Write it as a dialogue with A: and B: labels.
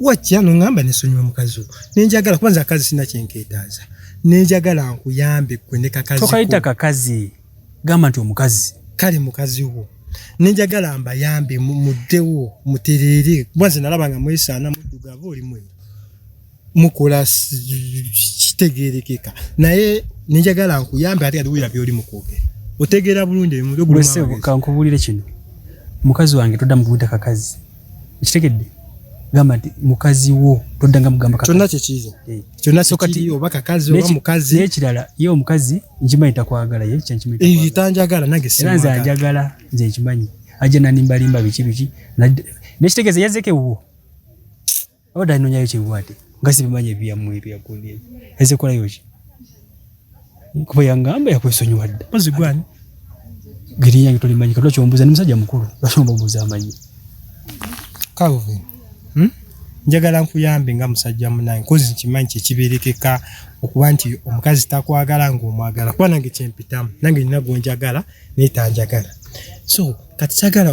A: wajja nongamba nesonyiwa mukazi wo nenjagala kubanza akazi sina kyenketaaza nenjagala nkuyambe gwe ne kakazi tokayita kakazi
B: gamba nti omukazi kale mukazi wo
A: nenjagala mbayambe muddewo mutereere kubanze nalaba nga mwesaana muddugavu oli mweru mukola kitegerekeka naye nenjagala nkuyambe ate atuwulira byoli mukwogera otegeera bulungi ebimukankubuulire
B: kino mukazi wange todda mubuyita kakazi ekitegedde gamba nti mukazi wo toddanga mugamba kyonna kyekiiza eh.
A: kyonna sokati oba kakazi oba mukazi nekirala ye omukazi
B: nkimanyi takwagala ye eh, tanjagala nange era
A: nze anjagala
B: nze nkimanyi ajja nanimbalimba biki biki nekitegeeza yazeko ewuwo abadde anonyayo kyebwate nga sibimanyi ebyamu ebyakundi ezekolayo ki kuba yangamba yakwesonyiwa dda mpozi gwani
A: geri
B: yange tolimanyi katula kyombuza ni musajja mukulu lwaki ombamuza amanyi
A: calvin hmm? njagala nkuyambe nga musajja munange kozi nkimanyi kyekiberekeka okuba nti omukazi takwagala ngaomwagala kuba nange kyempitamu nange nina gwenjagala naye tanjagala so kati kyagala